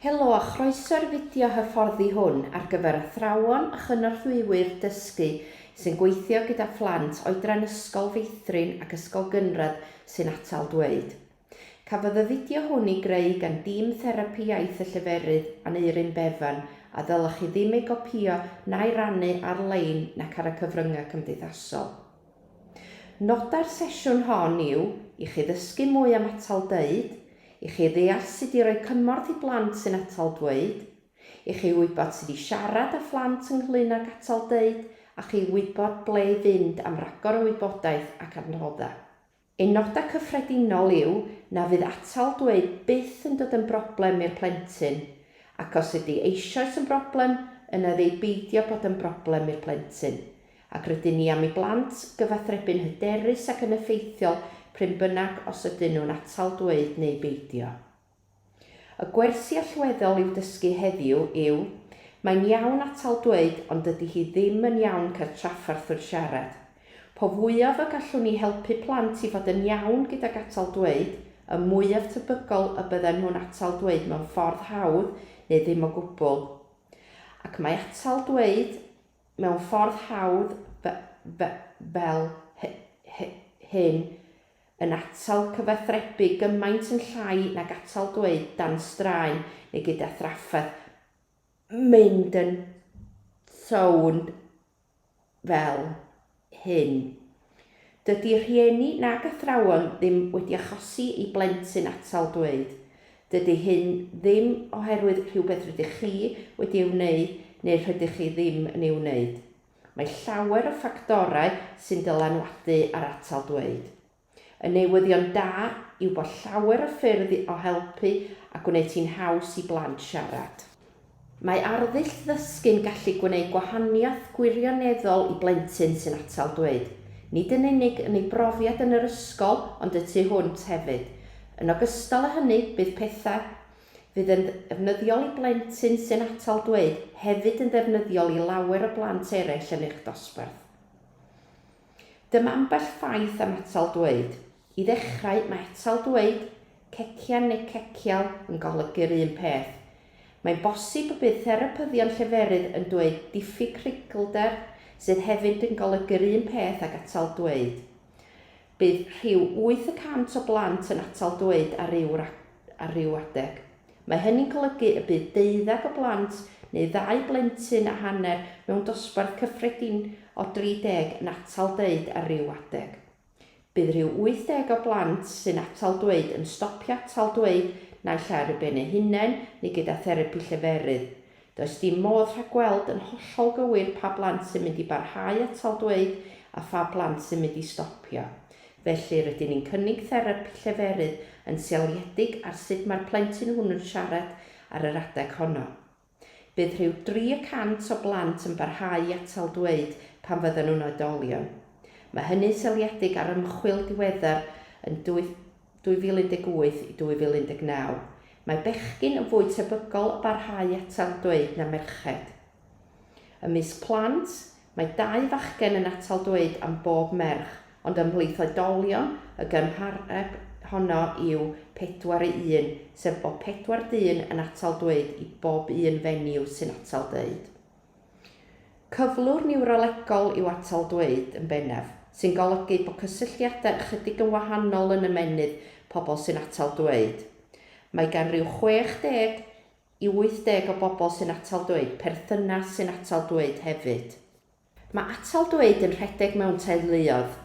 Helo a chroeso i'r fideo hyfforddi hwn ar gyfer athrawon a chynorthwywyr dysgu sy'n gweithio gyda phlant oedran Ysgol Feithrin ac Ysgol Gynradd sy'n atal dweud. Cafodd y fideo hwn ei greu gan dîm Therapi Iaith y Lleferydd, Aneurin Bevan, a ddylech chi ddim ei gopïo na'i rannu ar-lein nac ar y cyfryngau cymdeithasol. Nodau'r sesiwn hon yw i chi ddysgu mwy am atal dweud, i chi ddeall sut i roi cymorth i blant sy'n atal dweud, i chi wybod sut i siarad â phlant ynglŷn ag atal dweud a chi wybod ble i fynd am ragor o wybodaeth ac adnoddau. Ein nodau cyffredinol yw na fydd atal dweud byth yn dod yn broblem i'r plentyn, ac os ydy eisoes yn broblem, yna ef ei beidio bod yn broblem i'r plentyn, ac rydyn ni am i blant gyfathrebu'n hyderus ac yn effeithiol prin bynnag os ydyn nhw'n atal dweud neu beidio. Y gwersi allweddol i'w dysgu heddiw yw, Mae'n iawn atal dweud ond dydy hi ddim yn iawn cael trafferth wrth siarad. Po fwyaf y gallwn ni helpu plant i fod yn iawn gydag atal dweud, y mwyaf tebygol y bydden nhw'n atal dweud mewn ffordd hawdd neu ddim o gwbl. Ac mae atal dweud mewn ffordd hawdd fel hyn yn atal cyfathrebu gymaint yn llai nag atal dweud dan straen neu gyda thrafferth, mynd yn sownd fel hyn. Dydy rhieni nag athrawon ddim wedi achosi i blentyn atal dweud. Dydy hyn ddim oherwydd rhywbeth rydych chi wedi ei wneud neu rhydych chi ddim yn ei wneud. Mae llawer o ffactorau sy'n dylanwadu ar atal dweud. Y newyddion da yw bod llawer o ffyrdd o helpu a gwneud hi'n haws i blant siarad. Mae arddull ddysgu'n gallu gwneud gwahaniaeth gwirioneddol i blentyn sy'n atal dweud, nid yn unig yn ei brofiad yn yr ysgol ond y tu hwnt hefyd. Yn ogystal â hynny, bydd pethau. fydd yn ddefnyddiol i blentyn sy'n atal dweud hefyd yn ddefnyddiol i lawer o blant eraill yn eich dosbarth. Dyma ambell ffaith am atal dweud. I ddechrau, mae atal dweud, cecian neu cecial, yn golygu'r un peth. Mae'n bosib y bydd therapyddion lleferydd yn dweud diffyg creiglder, sydd hefyd yn golygu'r un peth ag atal dweud. Bydd rhyw wyth y cant o blant yn atal dweud ar ryw ar ryw adeg. Mae hynny'n golygu y bydd deuddeg o blant neu ddau blentyn a hanner mewn dosbarth cyffredin o 30 yn atal deud ar ryw adeg. Bydd rhyw 80 o blant sy'n atal dweud yn stopio atal dweud naill ai ar eu ben eu hunain neu gyda therapi lleferydd. Does dim modd rhagweld yn hollol gywir pa blant sy'n mynd i barhau atal dweud a pha blant sy'n mynd i stopio. Felly, rydyn ni'n cynnig therapi lleferydd yn seiliedig ar sut mae'r plentyn hwnnw'n siarad ar yr adeg honno. Bydd rhyw dri y cant o blant yn barhau i atal dweud pan fyddan nhw'n oedolion. Mae hynny'n seiliedig ar ymchwil diweddar yn 2018 i 2019, mae bechgyn yn fwy tebygol o barhau atal dweud na merched. Ymysg plant, mae dau fachgen yn atal dweud am bob merch, ond ymhlith oedolion, y gymhareb honno yw pedwar i un, sef bod pedwar dyn yn atal dweud i bob un fenyw sy'n atal dweud. Cyflwr niwrolegol yw atal dweud, yn bennaf, sy'n golygu bod cysylltiadau ychydig yn wahanol yn ymennydd pobl sy'n atal dweud. Mae gan ryw 60 i 80 o bobl sy'n atal dweud perthynas sy'n atal dweud hefyd. Mae atal dweud yn rhedeg mewn teuluoedd.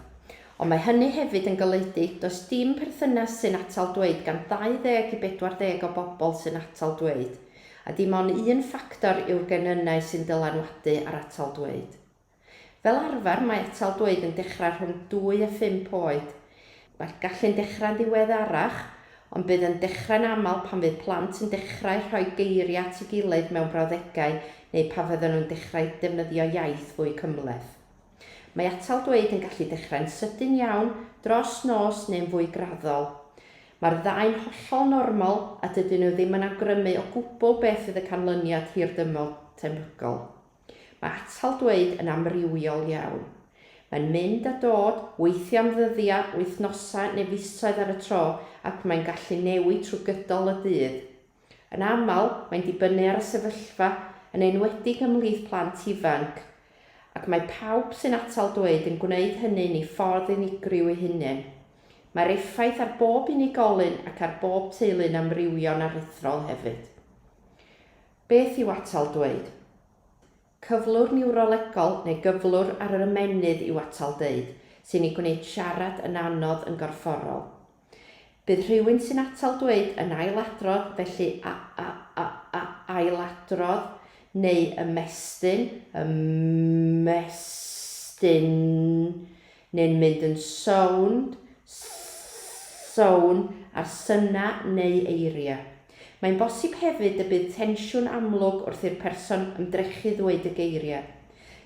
Ond mae hynny hefyd yn golygu does dim perthynas sy'n atal dweud gan 20 i 40 o bobl sy'n atal dweud. A dim ond un ffactor yw'r genynnau sy'n dylanwadu ar atal dweud. Fel arfer mae atal dweud yn dechrau rhwng dwy a phump oed. Mae'r gallu'n dechrau'n ddiweddarach, ond bydd yn dechrau'n aml pan fydd plant yn dechrau rhoi geiriau at ei gilydd mewn brawddegau neu pan fyddan nhw'n dechrau defnyddio iaith fwy cymhleth. Mae atal dweud yn gallu dechrau'n sydyn iawn, dros nos neu'n fwy graddol. Mae'r ddau'n hollol normal a dydyn nhw ddim yn awgrymu o gwbl beth fydd y canlyniad hirdymor tebygol. Mae atal dweud yn amrywiol iawn. Mae'n mynd a dod, weithiau am ddyddiau, wythnosau neu fisoedd ar y tro ac mae'n gallu newid trwy gydol y dydd. Yn aml, mae'n dibynnu ar y sefyllfa, yn enwedig ymhlith plant ifanc, ac mae pawb sy'n atal dweud yn gwneud hynny'n ei ffordd unigryw ei hunain. Mae'r effaith ar bob unigolyn ac ar bob teulu'n amrywio'n aruthrol hefyd. Beth yw atal dweud? Cyflwr niwrolegol neu gyflwr ar yr ymennydd yw atal deud, sy'n ei gwneud siarad yn anodd yn gorfforol. Bydd rhywun sy'n atal dweud yn ailadrodd, felly a, a, a, a, ailadrodd, neu ymestyn, ymestyn, neu'n mynd yn sownd, sownd, ar synau neu eiriau. Mae'n bosib hefyd y bydd tensiwn amlwg wrth i'r person ymdrechu ddweud y geiriau.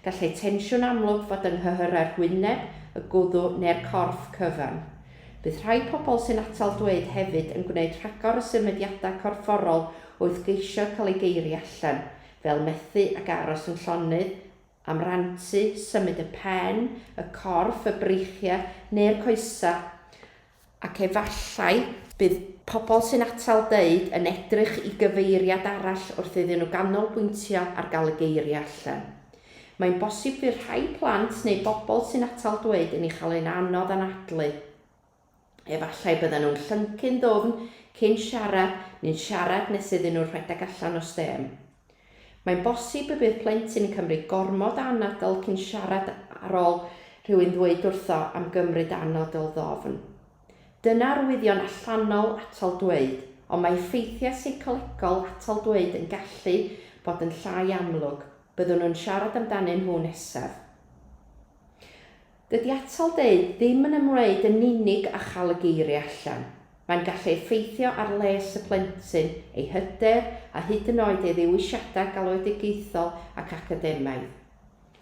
Gallai tensiwn amlwg fod yng nghyhyrau'r hwyneb, y gwddw neu'r corff cyfan. Bydd rhai pobl sy'n atal dweud hefyd yn gwneud rhagor o symudiadau corfforol wrth geisio cael eu geiriau allan, fel methu ac aros yn llonydd, am rantu, symud y pen, y corff, y breichiau neu'r coesau, ac efallai bydd pobl sy'n atal deud yn edrych i gyfeiriad arall wrth iddyn nhw ganolbwyntio ar gael y geiriau allan. Mae'n bosib fydd rhai plant neu bobl sy'n atal dweud yn ei chael e'n anodd anadlu. Efallai bydden nhw'n llyncu'n ddwfn cyn siarad neu'n siarad nes iddyn nhw rhedeg allan o stêm. Mae'n bosib y bydd plentyn yn cymryd gormod o anadl cyn siarad ar ôl rhywun ddweud wrtho am gymryd anadl ddofn. Dyna arwyddion allanol atal dweud, ond mae effeithiau seicolegol atal dweud yn gallu bod yn llai amlwg, byddwn nhw'n siarad amdanyn nhw nesaf. Dydy atal deud ddim yn ymwneud yn unig â chael y geiriau allan. Mae'n gallu effeithio ar les y plentyn, ei hyder a hyd yn oed ei ddewisiadau galwedigaethol ac academaidd.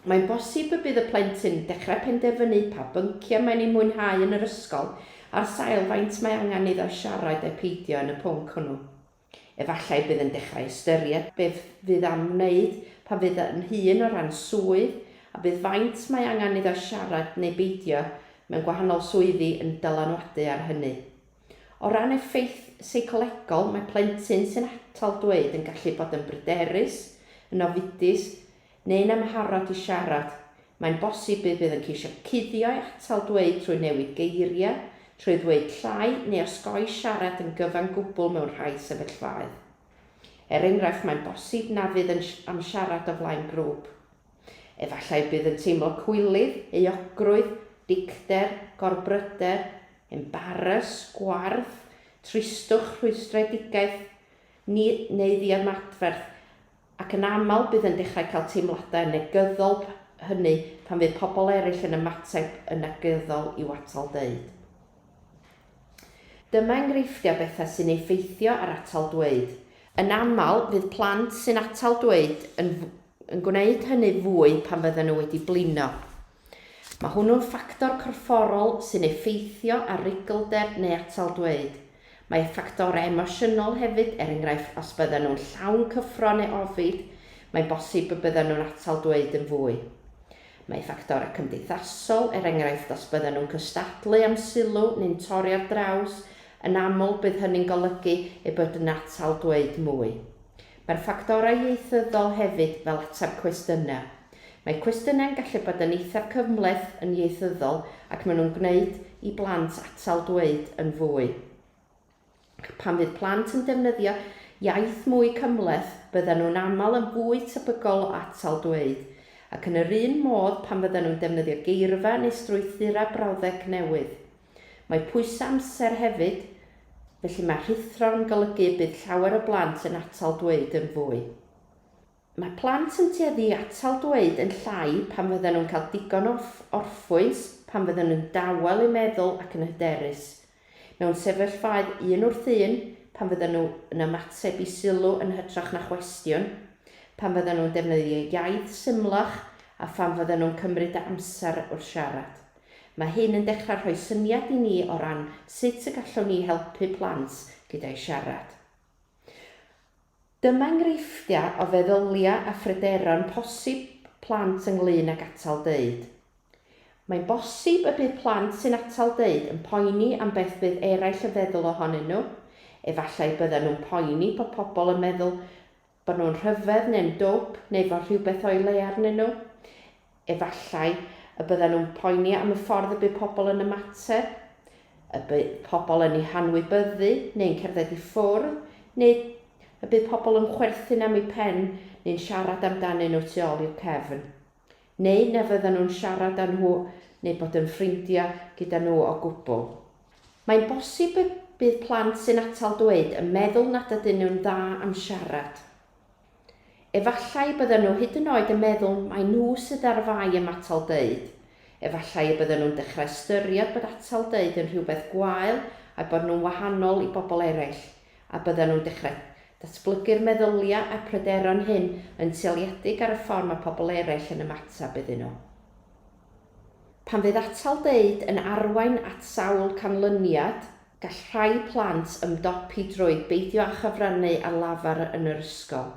Mae'n bosib y bydd y plentyn yn dechrau penderfynu pa bynciau mae'n eu mwynhau yn yr ysgol ar sail faint mae angen iddo siarad ai peidio yn y pwnc hwnnw. Efallai bydd yn dechrau ystyried beth fydd am wneud pan fydd yn hŷn o ran swydd, a bydd faint mae angen iddo siarad neu beidio mewn gwahanol swyddi yn dylanwadu ar hynny. O ran effaith seicolegol, mae plentyn sy'n atal dweud yn gallu bod yn bryderus, yn ofidus, neu'n amharod i siarad, mae'n bosib y bydd yn ceisio cuddio'i atal dweud trwy newid geiriau, trwy ddweud llai neu osgoi siarad yn gyfan gwbl mewn rhai sefyllfaoedd. Er enghraifft, mae'n bosib na fydd yn am siarad o flaen grŵp. Efallai y bydd yn teimlo cwilydd, euogrwydd, dicter, gorbryder, embaras, gwarth, tristwch, rhwystredigaeth, ni, neu ddiymadferth, Ac yn aml bydd yn dechrau cael teimladau negyddol hynny pan fydd pobl eraill yn ymateb yn negyddol i'w atal deud. Dyma enghreifftiau bethau sy'n effeithio ar atal dweud. Yn aml, fydd plant sy'n atal dweud yn yn gwneud hynny fwy pan fydden nhw wedi blino. Mae hwnnw'n ffactor corfforol sy'n effeithio ar ruglder neu atal dweud. Mae ffactorau emosiynol hefyd, er enghraifft os byddan nhw'n llawn cyffro neu ofid, mae'n bosib y byddan nhw'n atal dweud yn fwy. Mae ffactorau cymdeithasol, er enghraifft os byddan nhw'n cystadlu am sylw neu'n torri ar draws, yn aml bydd hynny'n golygu eu bod yn atal dweud mwy. Mae'r ffactorau ieithyddol hefyd fel ateb cwestiynau. Mae cwestiynau'n gallu bod yn eithaf cymhleth yn ieithyddol ac maen nhw'n gwneud i blant atal dweud yn fwy. Ac pan fydd plant yn defnyddio iaith mwy cymhleth, byddan nhw'n aml yn fwy tebygol o atal dweud. Ac yn yr un modd pan fyddan nhw'n defnyddio geirfa neu strwythurau brawddeg newydd. Mae pwysau amser hefyd, felly mae rhuthro'n golygu y bydd llawer o blant yn atal dweud yn fwy. Mae plant yn tueddu i atal dweud yn llai pan fyddan nhw'n cael digon o orffwys, pan fyddan nhw'n dawel eu meddwl ac yn hyderus. Mewn sefyllfaoedd un wrth un, pan fyddan nhw yn ymateb i sylw yn hytrach na chwestiwn, pan fyddan nhw'n defnyddio iaith symlach a phan fyddan nhw'n cymryd amser wrth siarad. Mae hyn yn dechrau rhoi syniad i ni o ran sut y gallwn ni helpu plant gyda'u siarad. Dyma enghreifftiau o feddyliau a phryderon posib plant ynglŷn ag atal deud. Mae'n bosib y bydd plant sy'n atal deud yn poeni am beth fydd eraill yn feddwl ohonyn nhw, efallai byddan nhw'n poeni bod pobl yn meddwl Bod nhw'n rhyfedd neu'n dwp neu fod rhywbeth o'i le arnyn nhw? Efallai y byddan nhw'n poeni am y ffordd y bydd pobl yn ymateb, y bydd pobl yn eu hanwybyddu neu'n cerdded i ffwrdd, neu y bydd pobl yn chwerthin am eu pen neu'n siarad amdanyn nhw tu ôl i'w cefn. neu na fyddan nhw'n siarad â nhw neu bod yn ffrindiau gyda nhw o gwbl. Mae'n bosib y bydd plant sy'n atal dweud yn meddwl nad ydyn nhw'n dda am siarad. Efallai y byddan nhw hyd yn oed yn meddwl mai nhw sydd ar fai am atal deud, efallai y byddan nhw'n dechrau ystyried bod atal deud yn rhywbeth gwael a'u bod nhw'n wahanol i bobl eraill. a byddan nhw'n dechrau datblygu'r meddyliau a'r pryderon hyn yn seiliedig ar y ffordd mae pobl eraill yn ymateb iddyn nhw. Pan fydd atal deud yn arwain at sawl canlyniad, gall rhai plant ymdopi drwy beidio â chyfrannu ar lafar yn yr ysgol.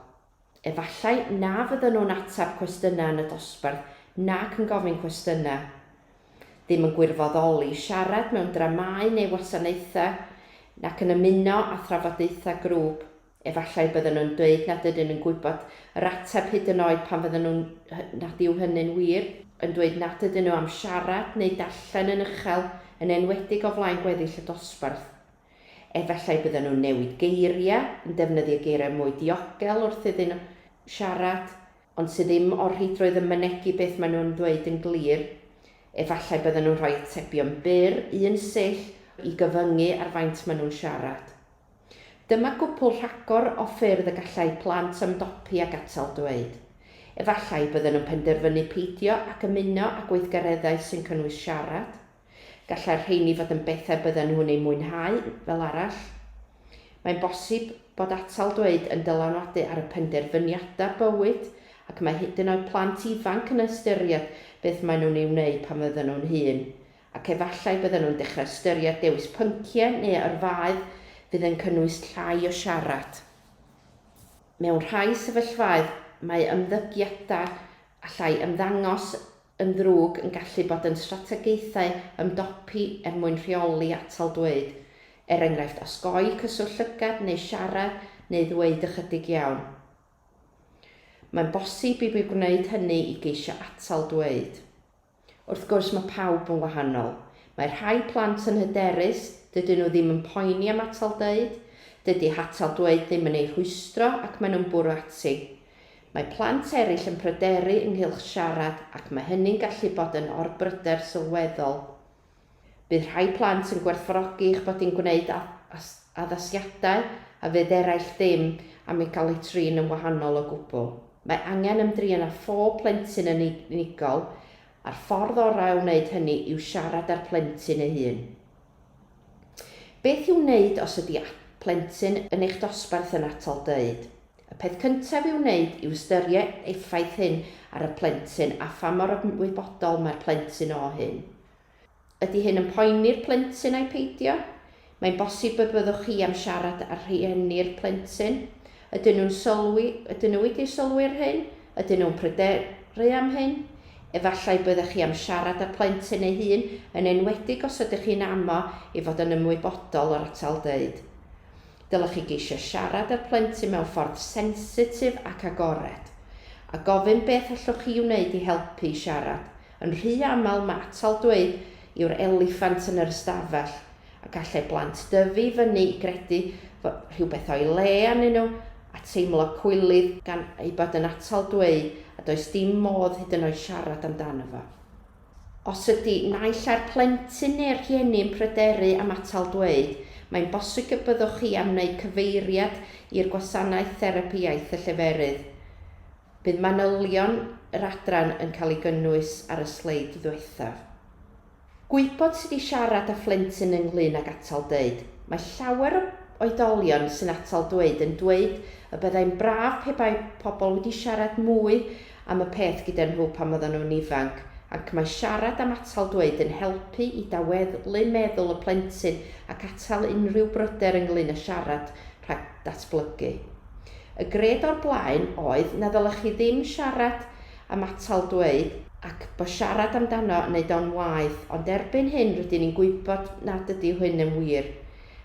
Efallai na fyddan nhw'n ateb cwestiynau yn y dosbarth nac yn gofyn cwestiynau. Ddim yn gwirfoddoli, siarad mewn dramâu neu wasanaethau, nac yn ymuno â thrafodaethau grŵp. Efallai byddan nhw'n dweud nad ydyn nhw'n gwybod yr ateb hyd yn oed pan fyddan nhw'n, nad yw hynny'n wir, yn dweud nad ydyn nhw am siarad neu darllen yn uchel, yn enwedig o flaen gweddill y dosbarth. Efallai bydden nhw'n newid geiriau, yn defnyddio geiriau mwy diogel wrth iddyn nhw siarad, ond sydd ddim o'r rheidrwydd yn mynegi beth maen nhw'n ddweud yn glir. Efallai bydden nhw'n rhoi atebion byr, un sill, i gyfyngu ar faint maen nhw'n siarad. Dyma gwpwl rhagor o ffyrdd y gallai plant ymdopi ag atal dweud. Efallai bydden nhw'n penderfynu peidio ac ymuno â gweithgareddau sy'n cynnwys siarad. Gallai'r rheini fod yn bethau bydden nhw'n eu mwynhau, fel arall. Mae'n bosib bod atal dweud yn dylanwadu ar y penderfyniadau bywyd, ac mae hyd yn oed plant ifanc yn ystyried beth maen nhw'n ei wneud pan fydden nhw'n hŷn, ac efallai bydden nhw'n dechrau ystyried dewis pynciau neu yrfaoedd fydd yn cynnwys llai o siarad. Mewn rhai sefyllfaoedd, mae ymddygiadau allai ymddangos yn ddrwg yn gallu bod yn strategaethau ymdopi er mwyn rheoli atal dweud, er enghraifft osgoi cyswllt llygad neu siarad neu ddweud ychydig iawn. Mae'n bosib i mi wneud hynny i geisio atal dweud. Wrth gwrs, mae pawb yn wahanol. Mae rhai plant yn hyderus, dydyn nhw ddim yn poeni am atal dweud, dydy hatal dweud ddim yn eu rhwystro ac maen nhw'n bwrw ati. Mae plant eraill yn pryderu ynghylch siarad ac mae hynny'n gallu bod yn orbryder sylweddol. Bydd rhai plant yn gwerthfawrogi eich bod yn gwneud addasiadau a fydd eraill ddim am ei gael ei trin yn wahanol o gwbl. Mae angen ymdrin â phob plentyn yn unigol, a'r ffordd orau o wneud hynny yw siarad â'r plentyn ei hun. Beth i'w wneud os ydi plentyn yn eich dosbarth yn atal dweud? Y peth cyntaf i'w wneud yw ystyried effaith hyn ar y plentyn a pha mor ymwybodol mae'r plentyn o hyn. Ydi hyn yn poeni'r plentyn ai peidio? Mae'n bosib y byddwch chi am siarad â rhieni'r plentyn Ydyn nhw'n sylwi, ydyn nhw wedi sylwi ar hyn? Ydyn nhw'n pryderu am hyn? Efallai byddech chi am siarad â'r plentyn ei hun, yn enwedig os ydych chi'n amo i fod yn ymwybodol o'r atal dweud. Dylech chi geisio siarad â'r plentyn mewn ffordd sensitif ac agored, a gofyn beth allwch chi wneud i helpu i siarad. Yn rhy aml mae atal dweud yw'r eliffant yn yr ystafell, a gallai blant dyfu i fyny i gredu fod rhywbeth o'i le arnyn nhw, a teimlo cwilydd gan ei bod yn atal dweud a does dim modd hyd yn oed siarad amdano fo. Os ydy naill ai'r plentyn neu'r rhieni yn pryderu am atal dweud, mae'n bosib y byddwch chi am wneud cyfeiriad i'r gwasanaeth therapi iaith y lleferydd. Bydd manylion yr adran yn cael ei gynnwys ar y sleid ddiwethaf. Gwybod sut i siarad â phlentyn ynglŷn ag atal dweud. Mae llawer o oedolion sy'n atal dweud yn dweud y byddai'n braf pe bai pobl wedi siarad mwy am y peth gyda nhw pan oedden nhw'n ifanc, ac mae siarad am atal dweud yn helpu i daweddlu meddwl y plentyn ac atal unrhyw bryder ynglŷn â siarad rhag datblygu. Y gred o'r blaen oedd na ddylech chi ddim siarad am atal dweud, ac bo siarad amdano yn neud o'n waeth, ond erbyn hyn rydyn ni'n gwybod nad ydy hyn yn wir.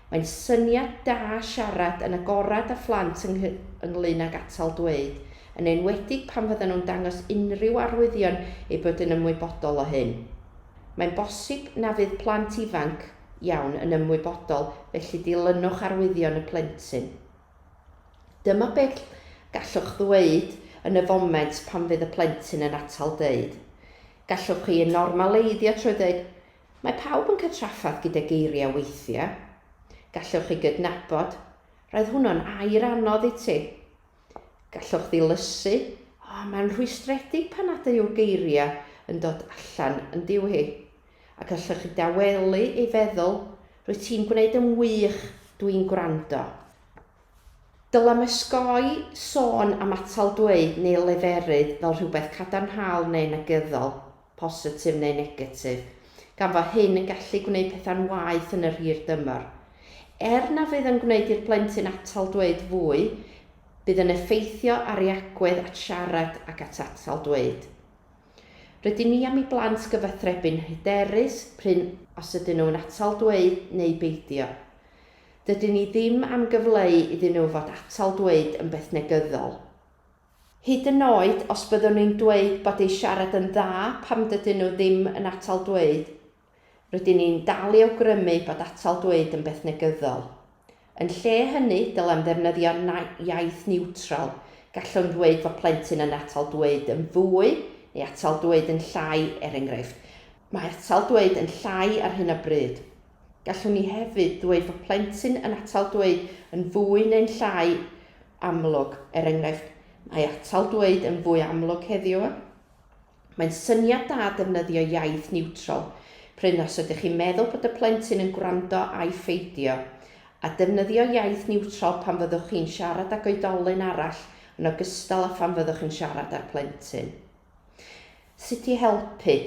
Mae'n syniad da siarad yn agorad â phlant yng ynglŷn ag atal dweud, yn enwedig pan fyddan nhw'n dangos unrhyw arwyddion eu bod yn ymwybodol o hyn. Mae'n bosib na fydd plant ifanc iawn yn ymwybodol, felly dilynwch arwyddion y plentyn. Dyma beth gallwch ddweud yn y foment pan fydd y plentyn yn atal dweud. Gallwch chi ei normaleiddio trwy ddweud, Mae pawb yn cael trafferth gyda geiriau weithiau. Gallwch chi gydnabod, Roedd hwnnw'n air anodd i ti. Gallwch ddilysu, O, mae'n rhwystredig pan nad yw'r geiriau yn dod allan yn diw hi. Ac allech chi dawelu ei feddwl, Rwyt ti'n gwneud yn wych, dw i'n gwrando. Dylem osgoi sôn am atal dweud neu leferydd fel rhywbeth cadarnhaol neu negyddol, positif neu negatif, gan fo hyn yn gallu gwneud pethau'n waeth yn yr hir dymor. Er na fydd yn gwneud i'r plentyn atal dweud fwy, bydd yn effeithio ar ei agwedd at siarad ac at atal dweud. Rydyn ni am i blant gyfathrebu'n hyderus prin os ydyn nhw'n atal dweud neu beidio. Dydyn ni ddim am gyfleu iddyn nhw fod atal dweud yn beth negyddol. Hyd yn oed os byddwn ni'n dweud bod eu siarad yn dda pam dydyn nhw ddim yn atal dweud, Rydyn ni'n dal i awgrymu bod atal dweud yn beth negyddol. Yn lle hynny, dylem ddefnyddio iaith niwtral, gallwn ddweud fod plentyn yn atal dweud yn fwy neu atal dweud yn llai, er enghraifft, Mae atal dweud yn llai ar hyn o bryd. Gallwn ni hefyd ddweud fod plentyn yn atal dweud yn fwy neu'n llai amlwg, er enghraifft, Mae atal dweud yn fwy amlwg heddiw. Mae'n syniad da defnyddio iaith niwtral, prin os ydych chi'n meddwl bod y plentyn yn gwrando ai pheidio, a defnyddio iaith niwtral pan fyddwch chi'n siarad ag oedolyn arall yn ogystal â phan fyddwch yn siarad â'r plentyn. Sut i helpu.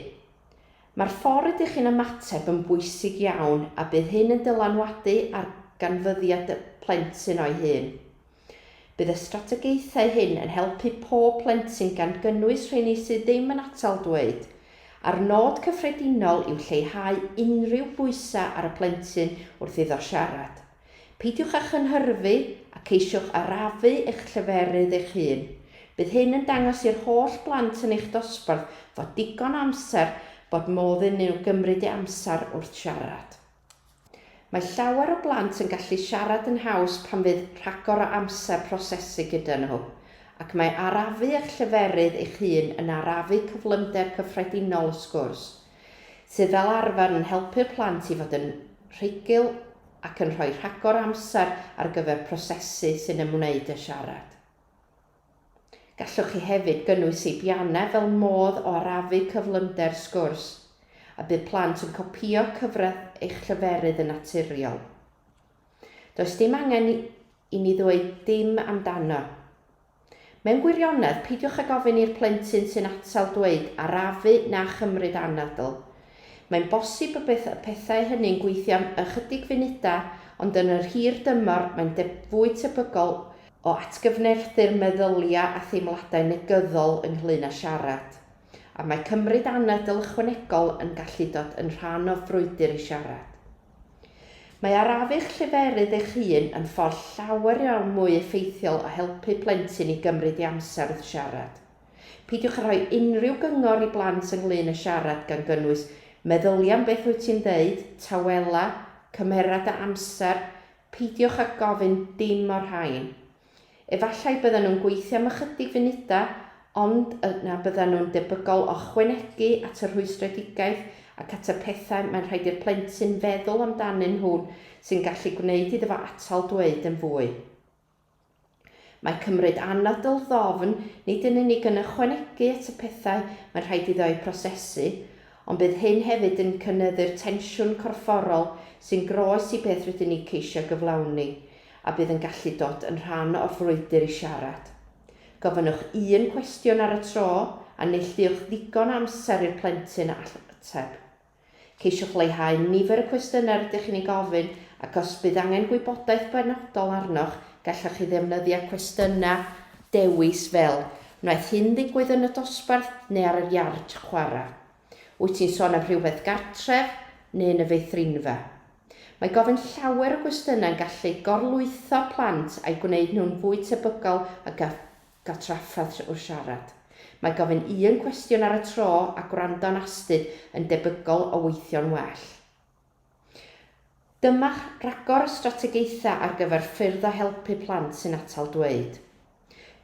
Mae'r ffordd rydych chi'n ymateb yn bwysig iawn a bydd hyn yn dylanwadu ar ganfyddiad y plentyn o'i hun. Bydd y strategaethau hyn yn helpu pob plentyn gan gynnwys rheini sydd ddim yn atal dweud, a'r nod cyffredinol yw lleihau unrhyw bwysau ar y plentyn wrth iddo siarad. Peidiwch â chynhyrfu a ceisiwch arafu eich lleferydd eich hun. Bydd hyn yn dangos i'r holl blant yn eich dosbarth fod digon o amser bod modd iddyn nhw gymryd eu amser wrth siarad. Mae llawer o blant yn gallu siarad yn haws pan fydd rhagor o amser prosesu gyda nhw, ac mae arafu eich lleferydd eich hun yn arafu cyflymder cyffredinol y sgwrs, sydd fel arfer yn helpu'r plant i fod yn rhugl ac yn rhoi rhagor o amser ar gyfer prosesu sy'n ymwneud â siarad. Gallwch chi hefyd gynnwys seibiannau fel modd o arafu cyflymder sgwrs, a bydd plant yn copïo cyfradd eich lleferydd yn naturiol. Does dim angen i ni ddweud dim amdano. Mewn gwirionedd, peidiwch ag ofyn i'r plentyn sy'n atal dweud 'arafu' na 'chymryd anadl'. Mae'n bosib y bydd y pethau hynny'n gweithio am ychydig funudau, ond yn yr hir dymor mae'n fwy tebygol o atgyfnerthu'r meddyliau a theimladau negyddol ynglŷn â siarad, a mae cymryd anadl ychwanegol yn gallu dod yn rhan o frwydr i siarad. Mae arafu'ch lleferydd eich hun yn ffordd llawer iawn mwy effeithiol o helpu plentyn i gymryd ei amser wrth siarad. Peidiwch â rhoi unrhyw gyngor i blant ynglŷn â siarad gan gynnwys meddylia am beth wyt ti'n ddeud, tawela, cymera dy amser, Peidiwch â gofyn dim o'r rhain. Efallai byddan nhw'n gweithio am ychydig funudau, ond yna byddan nhw'n debygol o ychwanegu at y rhwystredigaeth ac at y pethau mae'n rhaid i'r plentyn feddwl amdanyn nhw sy'n gallu gwneud iddo fo atal dweud yn fwy. Mae cymryd anadl ddofn nid yn unig yn ychwanegu at y pethau mae'n rhaid iddo eu prosesu, ond bydd hyn hefyd yn cynyddu'r tensiwn corfforol sy'n groes i beth rydyn ni ceisio gyflawni, a bydd yn gallu dod yn rhan o'r frwydr i siarad. Gofynnwch un cwestiwn ar y tro, a neilltuwch ddigon o amser i'r plentyn ateb. Ceisiwch leihau nifer y cwestiynau rydych chi'n eu gofyn ac os bydd angen gwybodaeth benodol arnoch, gallwch chi ddefnyddio cwestiynau dewis fel, Wnaeth hyn ddigwydd yn y dosbarth neu ar yr iard chwarae? Wyt ti'n sôn am rhywbeth gartref neu yn y feithrinfa? Mae gofyn llawer o gwestiynau'n gallu gorlwytho plant a'i gwneud nhw'n fwy tebygol o gael Cael trafferth trwy'r siarad. Mae gofyn un cwestiwn ar y tro a gwrando'n astud yn debygol o weithio'n well. Dyma'ch rhagor o strategaethau ar gyfer ffyrdd o helpu plant sy'n atal dweud.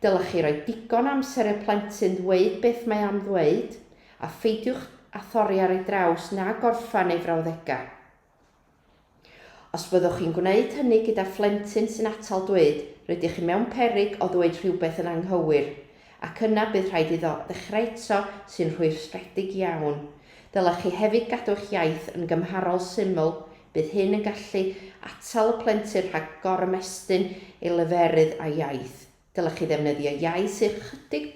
Dylech chi roi digon o amser i'r plentyn ddweud beth mae am ddweud, a pheidiwch â thorri ar ei draws na gorffen ei frawddegau. Os byddwch chi'n gwneud hynny gyda phlentyn sy'n atal dweud, rydych chi mewn peryg o ddweud rhywbeth yn anghywir, ac yna bydd rhaid iddo ddechrau eto, sy'n rhwystredig iawn. Dylech chi hefyd gadw eich iaith yn gymharol syml, bydd hyn yn gallu atal y plentyn rhag gorymestyn ei leferydd a'i iaith. Dylech chi ddefnyddio iaith sydd ychydig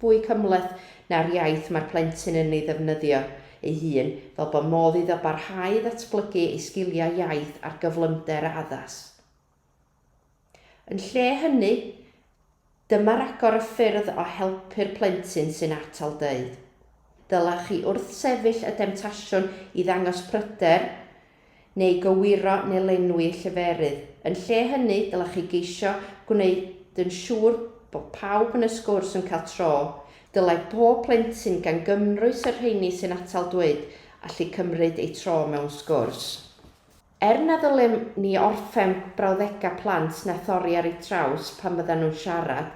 fwy cymhleth na'r iaith mae'r plentyn yn ei ddefnyddio ei hun, fel bod modd iddo barhau i ddatblygu ei sgiliau iaith ar gyflymder a addas. Yn lle hynny, dyma ragor o ffyrdd o helpu'r plentyn sy'n atal dweud. Dylech chi wrthsefyll y demtasiwn i ddangos pryder neu gywiro neu lenwi lleferydd. Yn lle hynny, dylech chi geisio gwneud yn siŵr bod pawb yn y sgwrs yn cael tro. Dylai pob plentyn, gan gymrwys y rheini sy'n atal dweud, allu cymryd eu tro mewn sgwrs. Er na ddylem ni orffen brawddegau plant na thorri ar eu traws pan fyddan nhw'n siarad,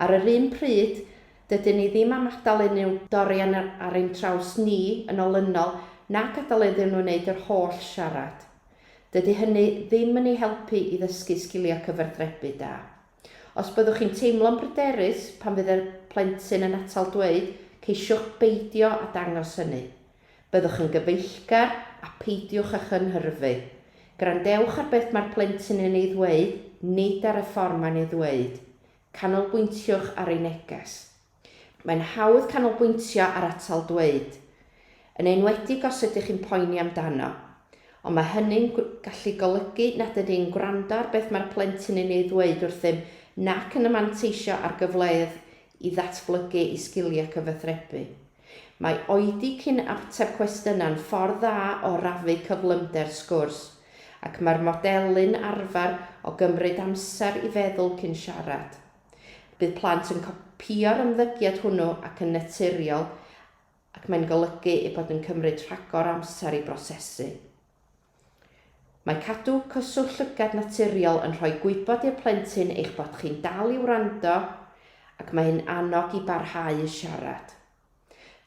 ar yr un pryd, Dydyn ni ddim am adael unrhyw dorian ar ein traws ni yn olynol na gadael iddyn nhw wneud yr holl siarad. Dydy hynny ddim yn eu helpu i ddysgu sgiliau cyfathrebu da. Os byddwch chi'n teimlo'n bryderus pan fydd y plentyn yn atal dweud, ceisiwch beidio â dangos hynny. Byddwch yn gyfeillgar a pheidiwch â chynhyrfu. Gwrandewch ar beth mae'r plentyn yn ei ddweud, nid ar y ffordd mae'n ei ddweud. Canolbwyntiwch ar ei neges. Mae'n hawdd canolbwyntio ar atal dweud, yn enwedig os ydych chi'n poeni amdano, ond mae hynny'n gallu golygu nad ydyn ni'n gwrando ar beth mae'r plentyn yn ei ddweud wrthym nac yn manteisio ar gyfleoedd i ddatblygu ei sgiliau cyfathrebu. Mae oedi cyn ateb cwestiynau'n ffordd dda o rafu cyflymder sgwrs, ac mae'r modelu'n arfer o gymryd amser i feddwl cyn siarad. Bydd plant yn copïo'r ymddygiad hwnnw ac yn naturiol ac mae'n golygu eu bod yn cymryd rhagor o amser i brosesu. Mae cadw cyswllt llygad naturiol yn rhoi gwybod i'r plentyn eich bod chi'n dal i wrando ac mae hyn annog i barhau i siarad.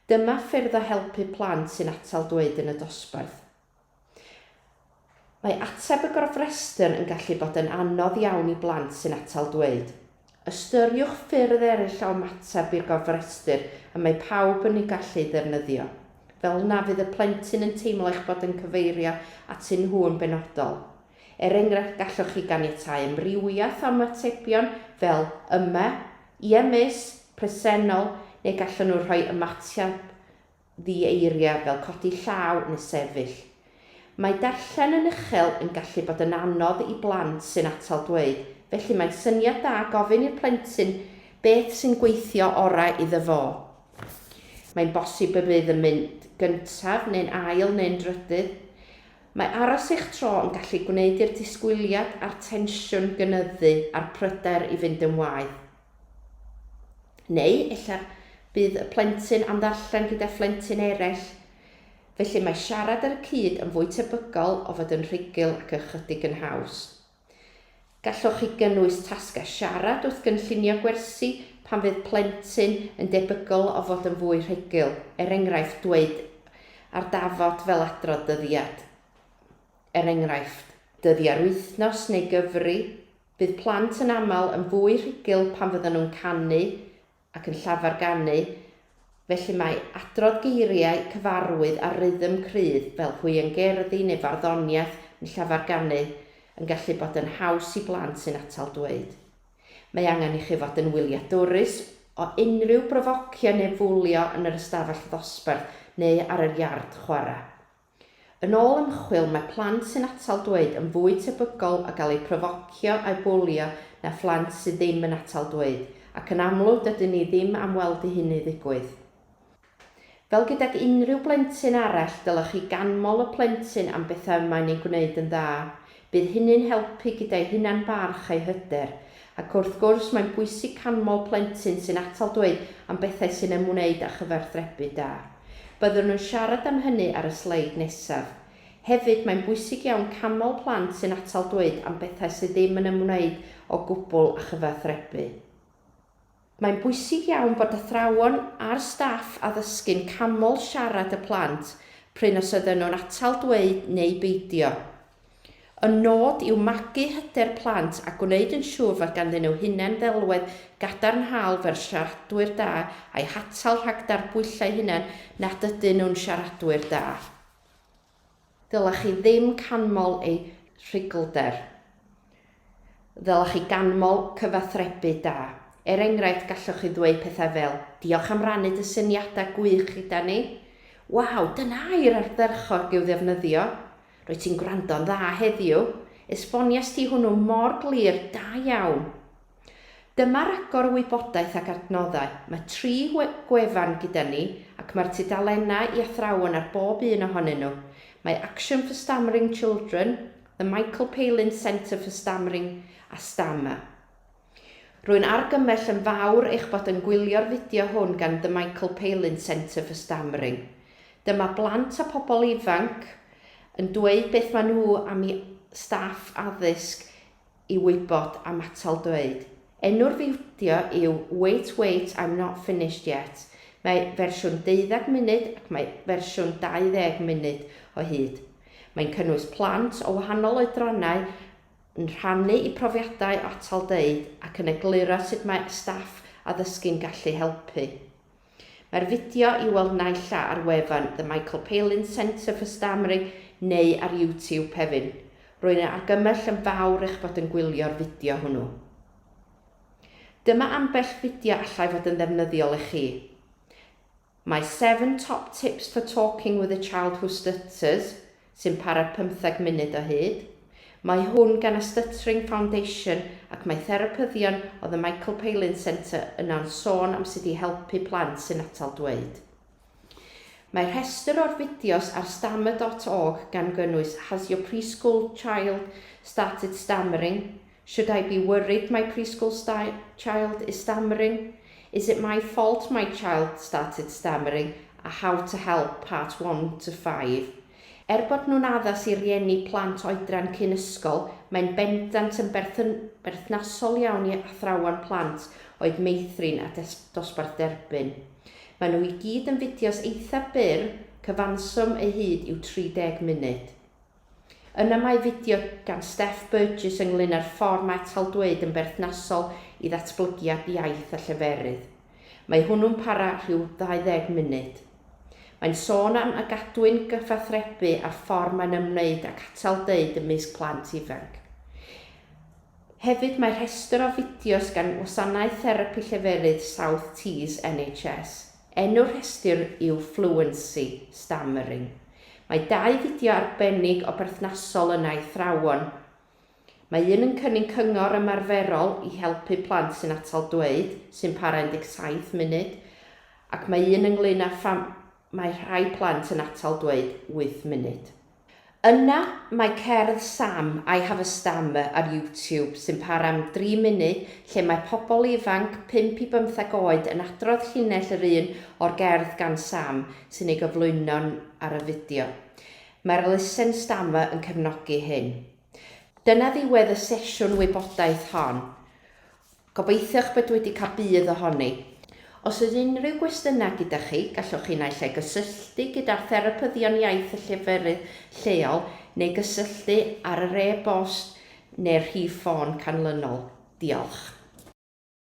Dyma ffyrdd o helpu plant sy'n atal dweud yn y dosbarth. Mae ateb y gofrestr yn gallu bod yn anodd iawn i blant sy'n atal dweud. Ystyriwch ffyrdd eraill o ymateb i'r gofrestr y mae pawb yn ei gallu ei ddefnyddio. Fel na fydd y plentyn yn teimlo eich bod yn cyfeirio atyn nhw yn benodol. Er enghraifft, gallwch chi ganiatáu amrywiaeth o ymatebion fel 'Yma', 'Ie Miss', 'Presennol', neu gallwn nhw rhoi ymateb ddi-eiriau fel codi llaw neu sefyll. Mae darllen yn uchel yn gallu bod yn anodd i blant sy'n atal dweud, felly mae'n syniad da gofyn i'r plentyn beth sy'n gweithio orau iddo fo. Mae'n bosib y bydd yn mynd gyntaf neu'n ail neu'n drydydd. Mae aros eich tro yn gallu gwneud i'r disgwyliad a'r tensiwn gynyddu a'r pryder i fynd yn waeth. Neu ella bydd y plentyn am ddarllen gyda phlentyn eraill. Felly mae siarad ar y cyd yn fwy tebygol o fod yn rhugl ac ychydig yn haws. Gallwch chi gynnwys tasgau siarad wrth gynllunio gwersi pan fydd plentyn yn debygol o fod yn fwy rhugl, er enghraifft dweud ar dafod fel adrodd dyddiad, er enghraifft. Dyddiau'r wythnos neu gyfri. Bydd plant yn aml yn fwy rhugl pan fyddan nhw'n canu ac yn llafar ganu, felly mae adrodd geiriau cyfarwydd a rhythm cryf fel hwiangerddi neu farddoniaeth yn llafar ganu yn gallu bod yn haws i blant sy'n atal dweud. Mae angen i chi fod yn wyliadwrus o unrhyw brofocio neu fwlio yn yr ystafell ddosbarth neu ar yr iard chwarae. Yn ôl ymchwil, mae plant sy'n atal dweud yn fwy tebygol o gael eu profocio a'u bwlio na phlant sydd ddim yn atal dweud, ac yn amlwg dydyn ni ddim am weld i hynny ddigwydd. Fel gydag unrhyw blentyn arall, dylech chi ganmol y plentyn am bethau y mae'n eu gwneud yn dda. Bydd hynny'n helpu gyda'i hunan-barch a'i hyder. Ac wrth gwrs, mae'n bwysig canmol plentyn sy'n atal dweud am bethau sy'n ymwneud â chyfathrebu da. Byddwn yn siarad am hynny ar y sleid nesaf. Hefyd, mae'n bwysig iawn canmol plant sy'n atal dweud am bethau sydd ddim yn ymwneud o gwbl â chyfathrebu. Mae'n bwysig iawn bod athrawon a'r staff addysgu'n canmol siarad y plant prin os ydyn nhw'n atal dweud neu beidio. Y nod yw magu hyder plant a gwneud yn siŵr fod ganddyn nhw hunan-ddelwedd gadarnhaol fel siaradwyr da a'i hatal rhag darbwyllo eu hunain nad ydyn nhw'n siaradwyr da. Ddylech chi ddim canmol eu rhuglder. Ddylech chi ganmol cyfathrebu da. Er enghraifft, gallwch chi ddweud pethau fel, Diolch am rannu dy syniadau gwych gyda ni. Waw, dyna air ardderchog i'w ddefnyddio. Rwyt ti'n gwrando'n dda heddiw. Esbonies ti hwnnw mor glir, da iawn. Dyma ragor o wybodaeth ac adnoddau. Mae tri gwefan gyda ni ac mae'r tudalennau i athrawon ar bob un ohonyn nhw. Mae Action for Stammering Children, The Michael Palin Centre for Stammering a Stammer. Rwy'n argymell yn fawr eich bod yn gwylio'r fideo hwn gan The Michael Palin Centre for Stammering. Dyma blant a pobl ifanc yn dweud beth maen nhw am i staff addysg i wybod am atal dweud. Enw'r fideo yw Wait Wait I'm Not Finished Yet, mae fersiwn deuddeg munud ac mae fersiwn 20 munud o hyd. Mae'n cynnwys plant o wahanol oedrannau yn rhannu eu profiadau o atal dweud ac yn egluro sut mae staff addysgu'n gallu helpu. Mae'r fideo i'w weld naill a ar wefan The Michael Palin Centre for Stammering neu ar YouTube, Pevin. Rwy'n ei argymell yn fawr eich bod yn gwylio'r fideo hwnnw. Dyma ambell fideo allai fod yn ddefnyddiol i chi. My 7 Top Tips for Talking with a Child Who Stutters, sy'n para pymtheg munud o hyd. Mae hwn gan y Stuttering Foundation ac mae therapyddion o The Michael Palin Centre yno'n sôn am sut i helpu plant sy'n atal dweud. Mae rhestr o'r fideos ar stammer dot org gan gynnwys Has your preschool child started stammering? Should I be worried my preschool child is stammering? Is it my fault my child started stammering? a How to Help, Part One to Five. Er bod nhw'n addas i rieni plant oedran cyn ysgol, mae'n bendant yn berthnasol iawn i athrawon plant oed meithrin a dosbarth derbyn. Maen nhw i gyd yn fideos eitha' byr, cyfanswm eu hyd yw 30 munud. Yna mae fideo gan Steph Burgess ynglŷn â'r ffordd mae taldweud yn berthnasol i ddatblygiad iaith a lleferydd. Mae hwnnw'n para rhyw 20 munud. Mae'n sôn am a gadwyn gyfathrebu a'r ffordd mae'n ymwneud ac atal deud ymysg plant ifanc. Hefyd mae rhestr o fideos gan Wasanaeth Therapi Lleferydd South Tees NHS. Enw'r rhestr yw Fluency, Stammering. Mae dau fideo arbennig o berthnasol yna i athrawon. Mae un yn cynnig cyngor ymarferol i helpu plant sy'n atal dweud, sy'n para 17 munud, ac mae un ynglŷn â pham mae rhai plant yn atal dweud 8 munud. Yna mae cerdd Sam, I Have a Stammer ar YouTube sy'n para am dri munud lle mae pobl ifanc, pump i bymtheg oed, yn adrodd llinell yr un o'r gerdd gan Sam sy'n ei gyflwyno ar y fideo. Mae'r Listen Stammer yn cefnogi hyn. Dyna ddiwedd y sesiwn wybodaeth hon. Gobeithiwch bod wedi cael budd ohoni. Os oes unrhyw gwestiynau gyda chi, gallwch chi naill ai gysylltu gyda'r Therapyddion Iaith y lleferydd lleol neu gysylltu ar yr e-bost neu'r rhif ffôn canlynol. Diolch.